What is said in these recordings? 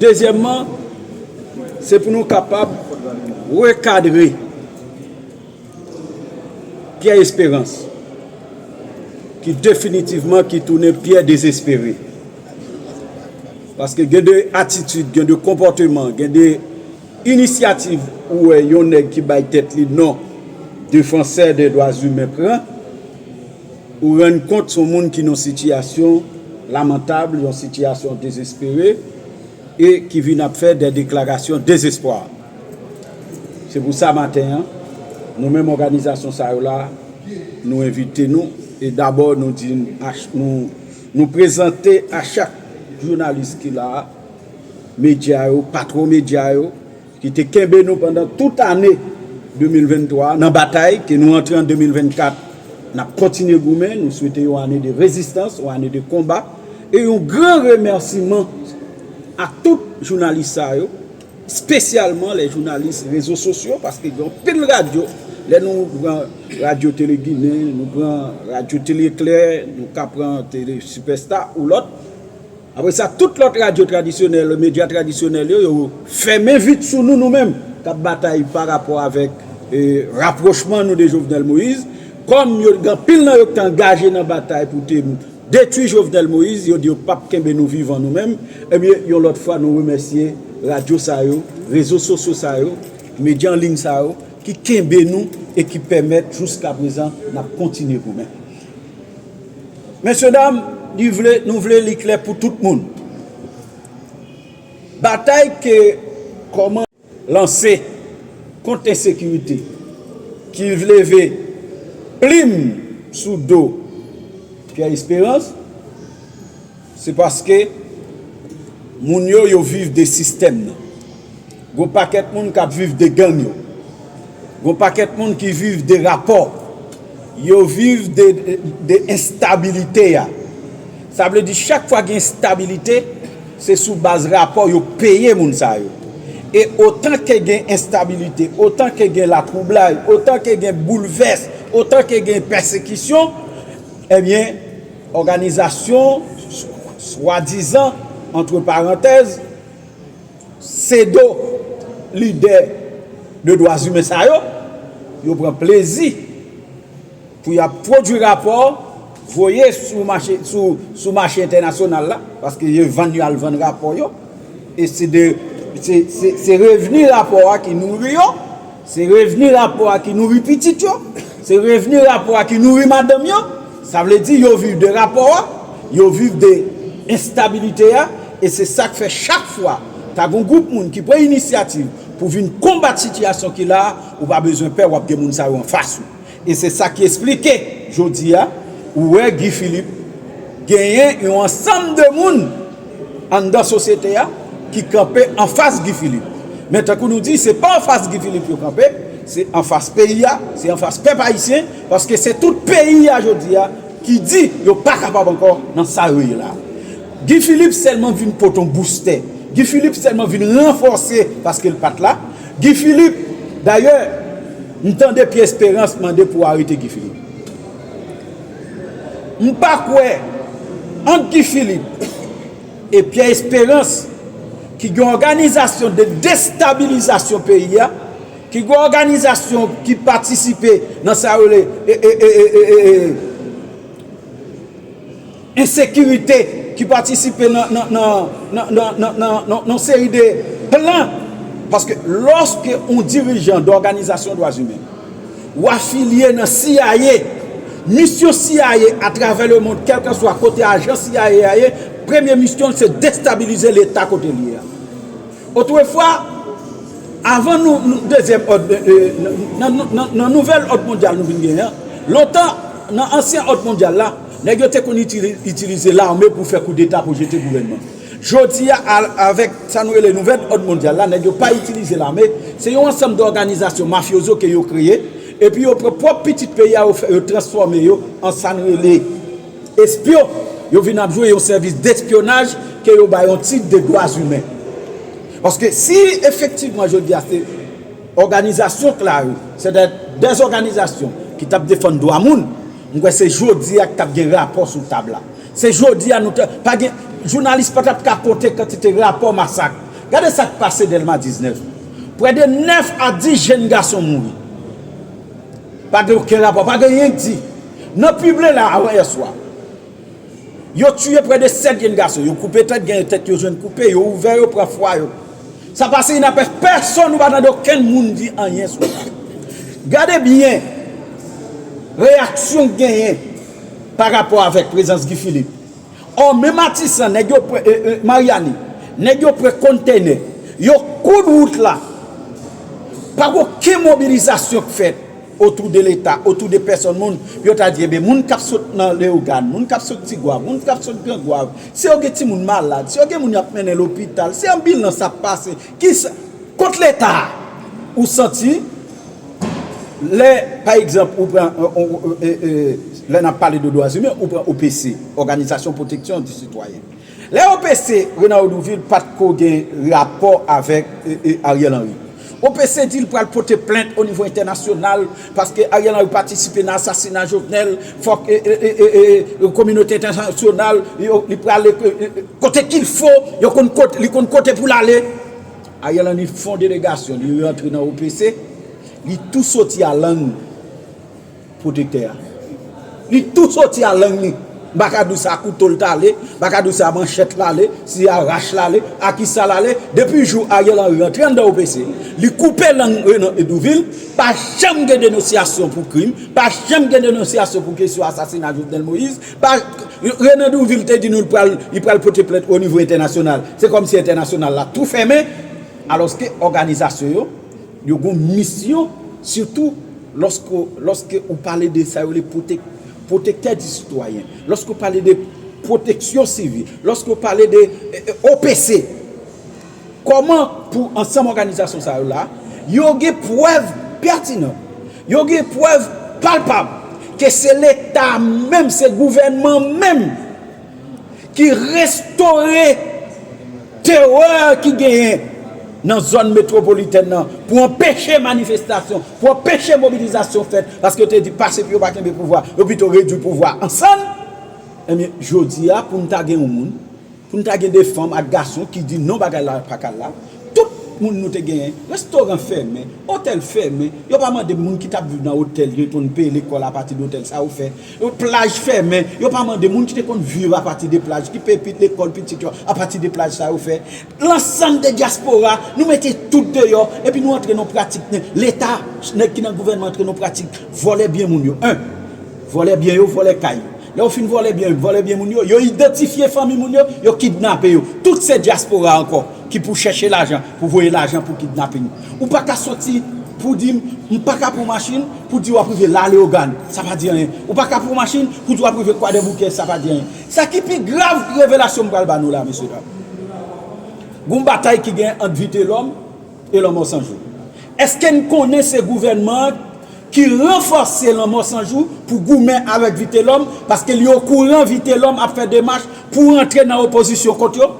Dezyèmman, se pou nou kapab rekadre Pyè Esperans ki definitivman ki tounen Pyè Dezespere. Paske gen de atitid, gen de konpòteman, gen de inisyativ ou wè yon nèg ki bay tèt li non defansè de dwazimen pran. Ou rann kont son moun ki nan sitiyasyon lamantab, yon sitiyasyon dezespere e ki vin ap fè dè deklarasyon dezespwa. Se pou sa maten an, nou menm òganizasyon sa yo la, nou envite nou e dabò nou di nou prezante a chak jounalis ki la a, medya yo, patwon medya yo, ki te kenbe nou pandan tout ane 2023 a nan batay ke nou antre an 2024 n ap kontinye goumen, nou swete yon ane de rezistans, yon ane de konba e yon gran remèsiman a tout jounalis sa yo spesyalman lè jounalis rezo sosyo paske gen anpil radyo lè nou pran radyo tele ginen, nou pran radyo tele eklè, nou ka pran tele sipèsta ou lòt. Apre sa, tout lòt radyo tradisyonèl, medya tradisyonèl yo, yo fèmen vit sou nou, nou menm, k ap batay pa rapò avèk rapwochman nou de Jovenel Moïse. Kòm yo gen anpil nan yo ki te angaje nan batay pou te detui Jovenel Moïse, yo di yo pap kenbe nou vivan nou menm. Ebyen, yon lòt fwa nou remèsye radyo sa yo, rezo sosyo sa yo, medya an liy sa yo ki kenbe nou e ki pèmèt jouskaprezan n ap kontinye goumen. Mesye dam, li vle, nou vle li klè pou tout moun. Batay ke kòman. Lanse kont ensekirite ki leve plim sou do Pierre Esperance. Se paske moun yo yo viv de sistèm nan. Gon pakèt moun k ap viv de gang yo. Gon pakèt moun ki viv de rapò. Yo viv de enstabilite a. Sa vle di chak fwa gen enstabilite, se sou baz rapò yo peye moun sa yo. E otan ke gen enstabilite, otan ke gen latwoublay, otan ke gen boulvès, otan ke gen pèsekisyon, ebyen, Òganizasyon swadizan, antre parantèz, sedo lidè de dwazimen sa yo, yo pran plezi pou y ap pwodui rapò, voye sou mache entènasyonal la, paske yo vann yo al vann rapò yo, e se revni rapò a ki nouri yo. Se revni rapò a ki nouri pitit yo, se revni rapò a ki nouri madanm yo, sa vle di yo viv de rapò a, yo viv de enstabilite a, e se sa k fè chak fwa ta gon gwoup moun ki pran inisyativ pou vin konbat sitiyasyon ki la a, ou pa bezwen pè w ap gen moun sa yo anfas ou. E se sa ki esplike jodi a ou wè Guy Philippe genyen yon ansanm de moun anndan sosyete a ki kanpe anfas Guy Philippe. Men tankou nou di se pa anfas Guy Philippe yo kanpe, se anfas peyi a, se anfas pèp ayisyen paske se tout peyi a jodi a ki di yo pa kapab ankò nan sa yo ye la a. Guy Philippe sèlman vin pote yon boustè, Guy Philippe sèlman vin ranfòse paske l pat la. Guy Philippe, dayè m tande Pierre Esperance mande pou arete Guy Philippe. M pa kwè ant Guy Philippe e Pierre Esperance ki gen òganizasyon de destabilizasyon peyi a, ki gen òganizasyon ki patisipe nan sa yo rele ensekirite ki patisipe nan yon seri de plan, paske lòske yon dirijan de òganizasyon dwa zimen ou afilye nan cia, misyon cia atravè le mond kèlkeswa kote ajan cia a ye, premye misyon l se destabilize leta kote l ye a. Otrefwa, avan dezyèm òd, nan nouvèl òd mondyal nou vin genyen an, lontan nan ansyen òd mondyal la, Nèg yo te konn itilize lame pou fè koudeta pou jete gouvènman. Jodi a avèk sa nou rele nouvèl òd mondyal la nèg yo pa itilize lame, se yon ansanm dòganizasyon mafyozo ke yo kreye epi yo pran pwòp pitit peyi a yo fè yo transfòme yo an sa n rele espyon, yo vin ap jwe yon sèvis despyonaj ke yo ba yon tit de dwazimen. Paske si efektivman jodi a se òganizasyon k la yo, se dè òganizasyon ki t ap defann dwa moun, M kwè se jodi a k tap gen rapò sou tab la. Se jodi a nou ta pa gen jounalis pa tap ka konte kantite rapò masak. Gade sa k pase Dèlma 19. Prè de 9 a 10 jenn gason mouri. Pa gen oken rapò, pa gen yen k di. Nan pible la avan yè swa. Yo tiye prè de 7 jenn gason, yo koupe tèt, gen yon tèt yo jwenn koupe, yo ouvè yo, pran fwa yo. Sa pase inapèse, pèsonn, nou pa tande okenn moun di anyen sou sa. Gade byen reyaksyon k genyen pa rapò avèk prezans Guy Philippe. Ò men Matisan, nèg yo pre, e, e, Maryani, nèg yo pre kontenè, yo koud wout la, pa gen okenn mobilizasyon k fèt. otou de leta, otou de pèsòn moun, pou yo ta di eben moun kap sot nan Leyogàn, moun kap sot Tigwav, moun kap sot Gran Gwav, si yo gen timoun malad, si yo gen moun yap mennen lopital, si anbilans ap pase, kisa, kot leta a? Ou santi, lè, pa egzanp, ou pran, lè nap pale de dwazimen, ou pran OPC, Òganizasyon Pwoteksyon di Sitwayen. Lè yo pese Renard Douvil pat ko gen rapò avèk Ariel Henry. Yo pese di li pral pote plent o nivo entènasyonal paske Ariel Henry patisipe nan asasina Jovenel fòk kominote entènasyonal li pral kote kil fo yo konn kote li konn kote pou lale. Ariel Henry fon delegasyon li rantre nan OPC li tou soti a lang. Pwotektè a. Li tou soti a lang li. M pa ka di w si a kouto l t ale, m pa ka di w si a manchèt l ale, si a rach l ale, a ki sa l ale, depi jou Ariel Henry rantre anndan OPC, li koupe lang Renan Hédouville, pa janm gen denonsyasyon pou krim, pa janm gen denonsyasyon pou kesyon asasina Jovenel Moïse, pa, Renan Hédouville te di nou li pral pote plent onivo entènasyonal, se kòmsi entènasyonal la tou fèmen, alòske òganizasyon yo. Yo gen yon misyon, sitou lòske ou pale de sa yo rele pwotektè di sitwayen, lòske ou pale de pwoteksyon sivil, lòske ou pale de OPC. Kòman pou ansanm òganizasyon sa yo la, yo gen prèv pètinan, yo gen prèv palpab ke se Leta menm, se gouvènman menm, ki restore terè ki genyen nan zòn metwopolitèn nan pou anpeche manifestasyon, pou anpeche mobilizasyon fèt, paske yo te di pase pou yo pa kenbe pouvwa, yo pito redui pouvwa a an sann, enben jodi a pou nou ta gen yon moun, pou nou ta gen 2 fanm ak gason ki di non bagay la pa ka la, tout moun nou te genyen, restoran fèmen, otèl fèmen, yo pa mande moun ki tap viv nan otèl yo epi pou nou peye lekòl apati de otèl sa yo fè. Yon plaj fèmen, yo pa mande moun ki te konn viv apati de plaj, ki peye lekòl pitit yo apati de plaj sa yo fè. Lansanm de dyaspora, nou mete tout deyò epi nou antre nan yon pratik nèg Leta, nèg ki nan gouvènman antre nan yon pratik vòlè byen moun yo. 1. Vòlè byen yo, vòlè kay yo. Lè yo fin vòlè byen yo, vòlè byen moun yo, yo idantifye fanmi moun yo, yo kidnape yo. Tout se dyaspora ankò ki pou chèche lajan, pou voye lajan pou kidnaping. Ou pa ka soti pou di m m pa ka pran machin pou di w ap rive La Leogane, sa pa di anyen. Ou pa ka pran machin pou di w ap rive Kwadèboukè, sa pa di anyen. Sa ki pi grav revelasyon m pral ba nou la, mesye dam, gon batay ki gen ant Vitelòm e Lanmò San Jou. Eske n konnen se gouvènman an ki ranfòse Lanmò San Jou pou goumen avèk Vitelòm paske li okouran Vitelòm ap fè demach pou rantre nan opozisyon kont yo?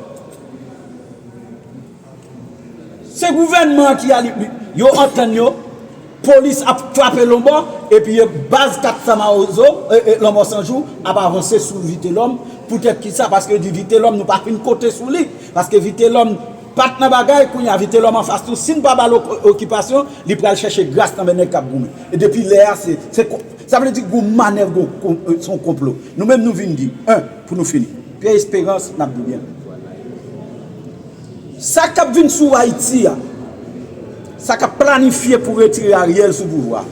Se gouvènman an ki ale yo antann yo polis ap frape lonbò epi baz 400 mawozo lanmò san jou ap avanse sou vitelòm poutèt kisa paske yo di vitelòm nou pa fin konte sou li paske vitelòm pat nan bagay kounye a vitelòm anfas nou si n pa ba l okipasyon li pral chèche gras nan men nèg k ap goumen e depi lè a se sa vle di gon manèv gon se yon konplo nou menm nou vin di 1 pou nou fini Pyè Esperans n ap di w byenvni. Sa kap vin sou Ayiti a, sa kap planifye pou retire Ariel sou pouvwa,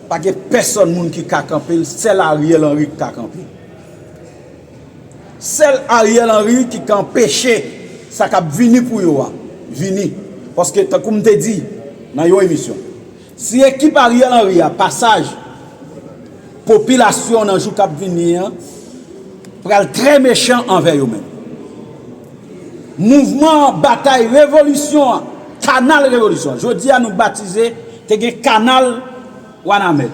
pa gen pèsòn moun ki ka kanpe l, sèl Ariel Henry ki ka kanpe. Sèl Ariel Henry ki ka anpeche sa kap vini pou yo a vini. Paske tankou m te di nan yon emisyon. Si ekip Ariel Henry a pa saj, popilasyon nan jou kap vini an pral trè mechan anvè yo menm. Mouvman batay revolisyon an, kanal revolisyon an, jodi a nou batize te gen kanal Wanament.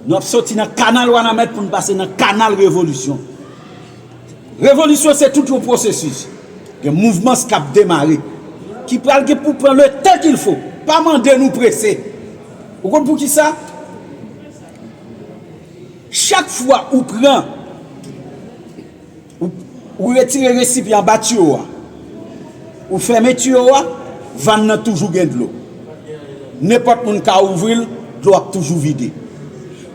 Nou ap soti nan kanal Wanament pou nou pase nan kanal revolisyon. Revolisyon se tout yon pwosesis. Gen mouvmans k ap demare, ki pral gen pou pran le tan ki l fo. Pa mande nou prese. Ou konn pou ki sa? Chak fwa ou pran, ou retire resipyan anba tiyo a, ou fèmen tiyo a, vàn nan toujou gen dlo. Nenpòt moun ka ouvri l, dlo ap toujou vide.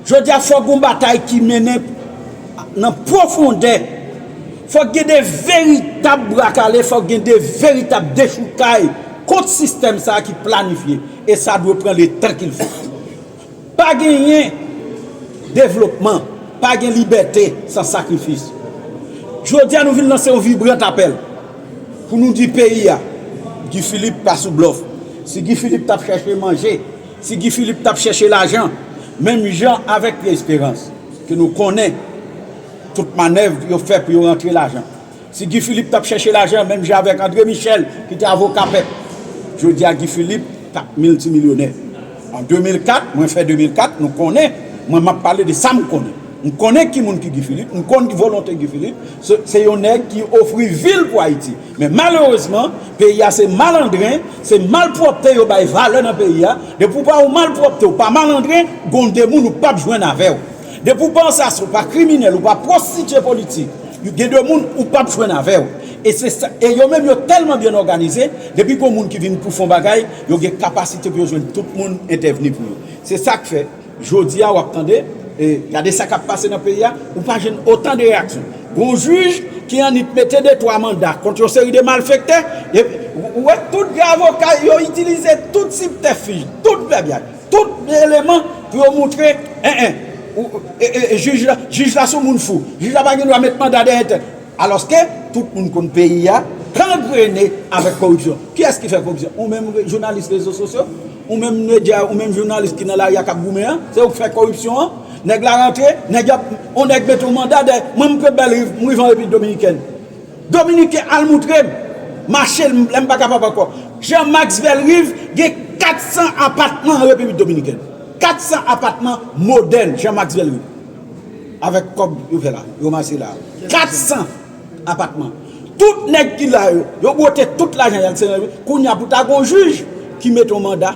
Jodi a fòk gon batay ki mennen nan pwofondè, fòk gen de veritab bra kale, fòk gen de veritab dechoukay kont sistèm sa ki planifye e sa dwe pran le tan kil fò. Pa genyen devlopman, pa gen libète san sakrifis. Jodi a nou vin lanse yon vibrant apèl pou nou di peyi a Guy Philippe pa sou blòf. Si Guy Philippe tap chèche manje. Si Guy Philippe tap chèche lajan menm jan avèk Pierre Esperance ke nou konnen tout manèv yo fè pou yo rantre lajan, si Guy Philippe tap chèche lajan menm jan avèk Andre Michel ki te avoka pèp, jodi a Guy Philippe tap miltimilyonè. An 2004, mwen fè 2004, nou konnen, mwen map pale de sa m konnen. M konnen ki moun ki Guy Philippe, m konn ki volonte Guy Philippe, se yon nèg ki ofri vil pou Ayiti. Men malerezman, peyi a se malandren, se malpwòpte yo bay valè nan peyi a, depi ou pa yon malpwòpte ou pa malandren, gon de moun ou pap jwenn avè w. Depi ou pa ansas, ou pa kriminèl, ou pa pwostitye politik, gen de moun ou pap jwenn avè w. E se sa, e yo menm yo tèlman byen òganize, depi gon moun ki vin pou fon bagay, yo gen kapasite pou yo jwenn tout moun entèvni pou yo. Se sa k fè. Jodi a wap tande, e gade sa kap pase nan peyi a, ou pa jwenn otan de reyaksyon. Gon jij ki annik mete de twa manda kont yon seri de malfektè, epi ou wè tout de avoka yo itilize tout sibtèfij, tout vèbyaj, tout eleman pou yo moutre, en en, jij la, jij la son moun fou, jij la pa gen dwa met manda dèyè tèt. Alòske tout moun konn peyi a gangrene avèk koripsyon. Kiyès ki fè koripsyon? Ou menm jounalis rezo sosyo? Ou menm media ou menm jounalis ki nan lari a kap goumen an, se ou k fè koripsyon an, nèg la rantre, nèg yo ap, on nèg mete on manda dèyè, mwen m prebèl riv, m rive an repiblik dominikèn. Dominiken al moutre m, mache l, lè m pa kapab ankò. Jean Max Bellerive gen 400 apatman an repiblik dominikèn. 400 apatman modèn Jean Max Bellerive. Avèk kòb yo fè la, yo ranmase la a. 400! apatman tout nèg ki la yo yo bwote tout lajan yal se nan kounya pou ta gon jij ki mete yon manda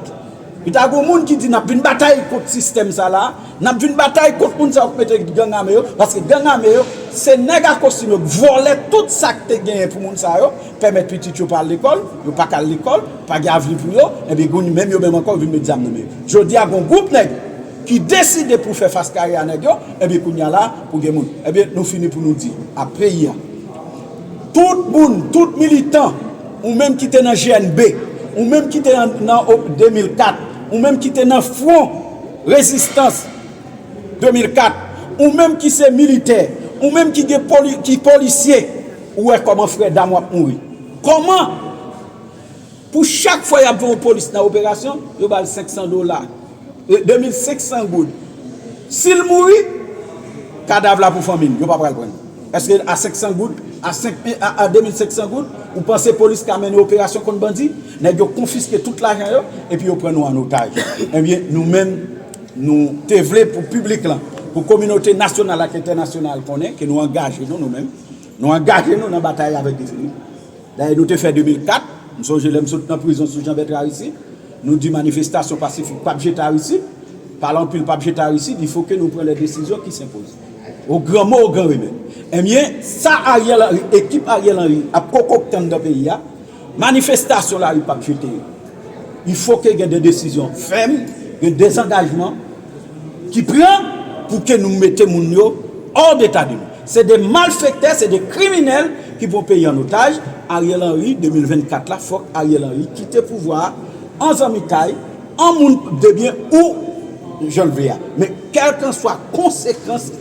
pou ta gon moun ki di nap vin batay kont sistèm sa la nap vin batay kont moun sa yo ki mete gang ame yo paske gang ame yo se nèg a kostim yo k vòlè tout sak te genyen pou moun sa yo pèmèt pitit yo pa al lekòl yo pa ka al lekòl pa gen avni pou yo ebyen gounye menm yo menm ankò yo vin met zam nan men yo jodia gon gwoup nèg ki deside pou fè fas kare a nèg yo ebyen kounya la pou gen moun ebyen nou fini pou nou di a peyi a tout moun tout militan ou menm ki te nan GNB ou menm ki te nan 2004 ou menm ki te nan fwon rezistans 2004 ou menm ki se militè ou menm ki gen ki polisye ou wè kòman frè dam wap mouri kòman pou chak fwa yap gen yon polis nan operasyon yo bal 500 dola. 2500 goud sil mouri kadav la pou fanmil yo pa pral prann eske a 500 goud a 5 a 2500 goud ou panse polis ka mennen operasyon kont bandi nèg yo konfiske tout lajan yo epi yo pran nou an otaj ebyen nou menm nou te vle pou piblik lan pou kominote nasyonal ak entènasyonal konnen ke nou angaje nou nou menm nou angaje nou nan batay avèk defini. Dayè nou te fè 2004, m sonje lè m sot nan prizon sou Janbèt Aristid, nou di manifestasyon pasifik pap jete Aristid, pale anpil pap jete Aristid, il fo ke nou pran lè desizyon ki senpoze. O gran mo, o gran remè. Enbyen, sa Ariel Henry, ekip Ariel Henry ap kokokte anndan peyi a, manifestasyon lari pap jete yo. Il fo ke gen de desizyon fèm, gen dezangajman. Ki pran pou ke nou mete moun yo hors d'état de nuire. Se 2 malfektè, se 2 kriminèl ki pran peyi an otaj, Ariel Henry 2024 la fòk Ariel Henry kite pouvwa a an zanmitay, an moun debyen ou jan l vle a. Men kèlkanswa konsekans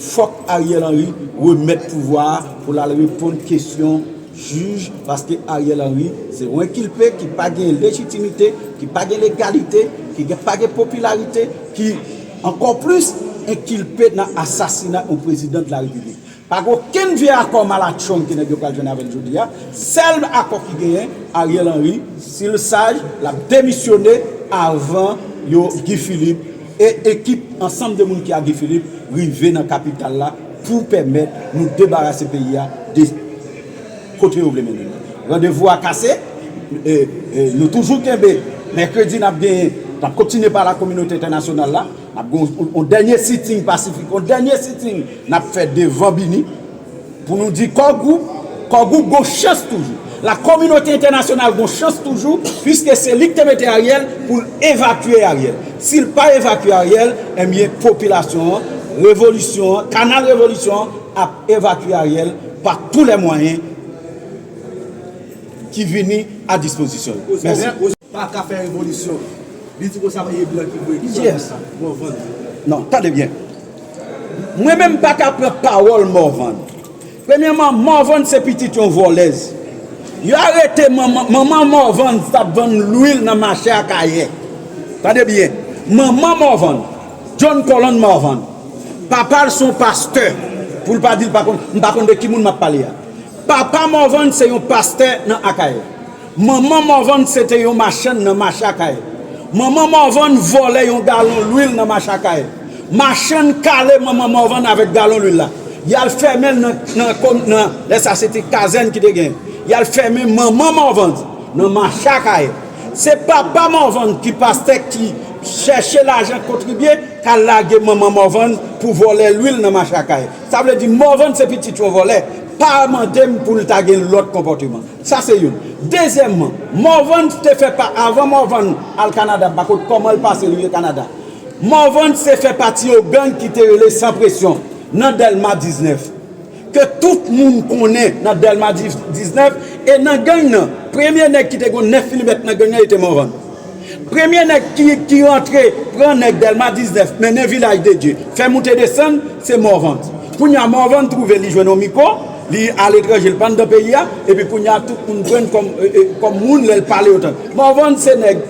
fòk Ariel Henry remèt pouvwa a pou l al reponn kesyon. Jij, paske Ariel Henry se on enkilpe ki pa gen lejitimite, ki pa gen legalite, ki gen pa gen popilarite, ki ankò plis enkilpe nan asasina on prezidan de la repiblik. Pa gen okenn vye akò malatchong ke nèg yo pral jwenn avè l jodi a. Sèl akò ki genyen, Ariel Henry, si l saj, l ap demisyone avan yo, Guy Philippe, e ekip ansanm de moun ki a Guy Philippe rive nan kapital la, pou pèmèt nou debarase peyi a de kote yo vle mennen li. Randevou a kase, nou toujou kenbe mèkredi n ap genyen, n ap kontinye pale ak kominote entènasyonal la, n ap gen yon dènye sitting pasifik, yon dènye sitting n ap fè devan bini pou nou di Core Group, Core Group gen yon chans toujou. La kominote entènasyonal gon chans toujou puiske se li ki te mete Ariel pou l evakye Ariel. Si l pa evakye Ariel, enbyen popilasyon an, revolisyon an, kanal revolisyon an ap evakye Ariel pa tou lè mwayen ki vini a dispozisyon yo. Mèsi. Paka fè revolisyon. Li di konsa paske blan ki voye. Kiyes? Pran sa. Morvan. Non, tande byen. Mwen menm paka pran pawòl Morvan. Premyèman, Morvan se pitit yon vòlèz. Yo arete manman, manman Morvan t ap vann lwil nan mache Akayè. Tande byen. Manman Morvan, John Colland Morvan, papa l se yon pastè. Pou l pa di l pa konn, m pa konn de ki moun m ap pale a. Papa Morvan se yon pastè nan Akayè. Manman Morvan se te yon machann nan mache Akayè. Manman Morvan vòlè yon galon lwil nan mache Akayè. Machann kale manman Morvan avèk galon lwil la. Y al fèmen l nan, lè sa a se te kazèn ki te genyen, y al fèmen manman Morvan nan mache Akayè. Se papa Morvan ki pastè ki chèche lajan kontribye k al lage manman Morvan pou vòlè lwil nan mache Akayè. Sa vle di Morvan se pitit yon vòlè. Pa mande m pou l ta gen lòt konpòteman. Sa se youn. Dezyèmman, Morvan te fè pa, avan Morvan al Kanada, m pa konn kòman l pase rive Kanada, Morvan te fè pati yon gang ki te rele Sans Pression nan Dèlma 19, ke tout moun konnen nan Dèlma 19, e nan gang nan, premye nèg ki te gon 9 milimèt nan gang nan e te Morvan. Premye nèg ki rantre pran nèg Dèlma 19 mennen Vilaj de Dye, fè moute desann, se Morvan. Kounye a Morvan twouve li jwenn yon miko, li aletranje, li pa anndan peyi a, epi kounye a tout moun pran l kòm moun lè l pale yo tande. Morvan se nèg,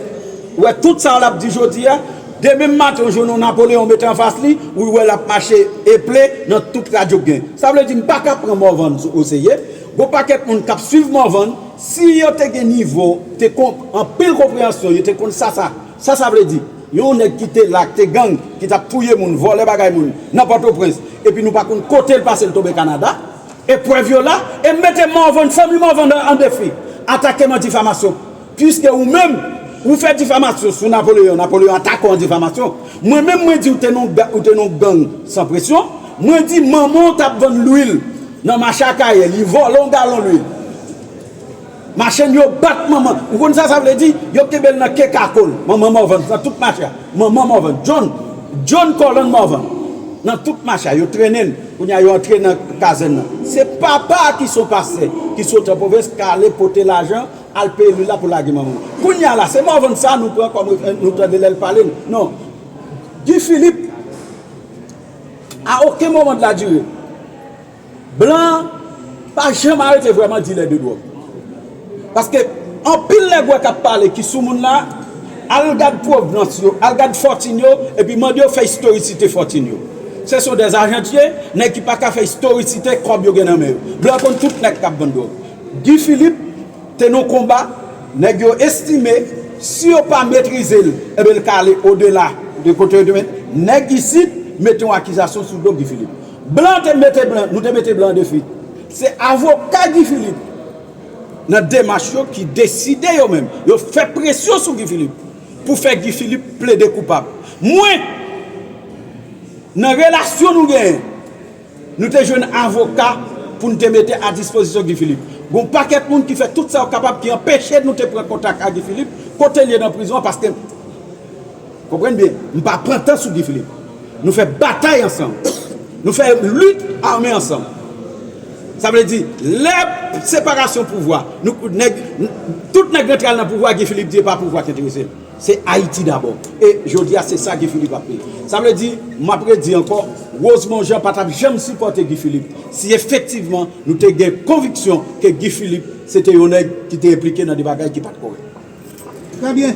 ou wè tout sa l ap di jodi a, demen maten ou jwenn yon Napoleyon mete anfas li, ou wè l ap mache eple nan tout radyo k gen. Sa vle di m pa ka pran Morvan o serye. Gon pakèt moun kap swiv Morvan si yo te gen nivo te kon anpil konpreyansyon yo te konn sa sa sa sa vle di yon nèg ki te la te gang ki tap touye moun vòlè bagay moun nan pòtoprens epi nou pa konn kotel pase l tonbe kanada e prèv yo la e m mete Morvan fanmi Morvan an defi atake m an difamasyon Piske ou menm, ou fè difamasyon sou Napoleon, Napoleon atake w an difamasyon, mwen menm mwen di ou te nan ou te nan yon gang san presyon, mwen di manman w t ap vann lwil nan mache Akayè, li vòlè yon galon lwil. Machann yo bat manman, ou konn sa sa vle di? Yo kenbe l nan ke kako l, manman Morvan, nan tout mache a. Manman Morvan, John, John Colland Morvan, nan tout mache a, yo trennen l, kounye a yo antre nan kazèn nan. Se papa a ki se yon pastè, ki sot an pwovens, k ale pote lajan Al peye lula pou lage manman w. Kounya la se morvan sa nou pran kom referans nou tande lèl pale non Guy Philippe a oken moman de la dure blan an pa janm arete vreman dilè de drog paske anpil nèg wè kap pale ki sou moun la al gad provnans yo al gad fòtin yo epi mande yo fè istoricite fòtin yo se son dè ajantiye nèg ki paka fè istoricite kob yo gen nan men yo blan konn tout nèg kap vann drog. Guy Philippe te nan konba nèg yo estime si yo pa metrize l enben l ka ale odela de kote yo te met nèg isit mete yon akizasyon sou do Guy Philippe. Blan te mete blan, nou te mete blan an defi. Se avoka Guy Philippe nan demach yo ki deside yo menm, yo fè presyon sou Guy Philippe pou fè Guy Philippe plede koupab. Mwen nan relasyon nou genyen. Nou te jwenn avoka pou n te mete a dispozisyon Guy Philippe. Gen yon pakèt moun ki fè tout sa yo kapab ki anpeche nou te pran kontak a Guy Philippe kote l ye nan prizon an paske m konprann byen m pa pran tan sou Guy Philippe. Nou fè batay ansanm. Nou fè lit ame ansanm. Sa vle di lè separasyon pouvwa nou nèg tout nèg rentral nan pouvwa Guy Philippe di e pa pouvwa ki enterese l. Se Ayiti dabò. E jodi a se sa Guy Philippe ap peye. Sa vle di, m ap redi ankò, Rosemond Jean pa t ap janm sipòte Guy Philippe si efektivman nou te gen konviksyon ke Guy Philippe se te yon nèg ki te enplike nan de bagay ki pa t kòrèk. Trè byen.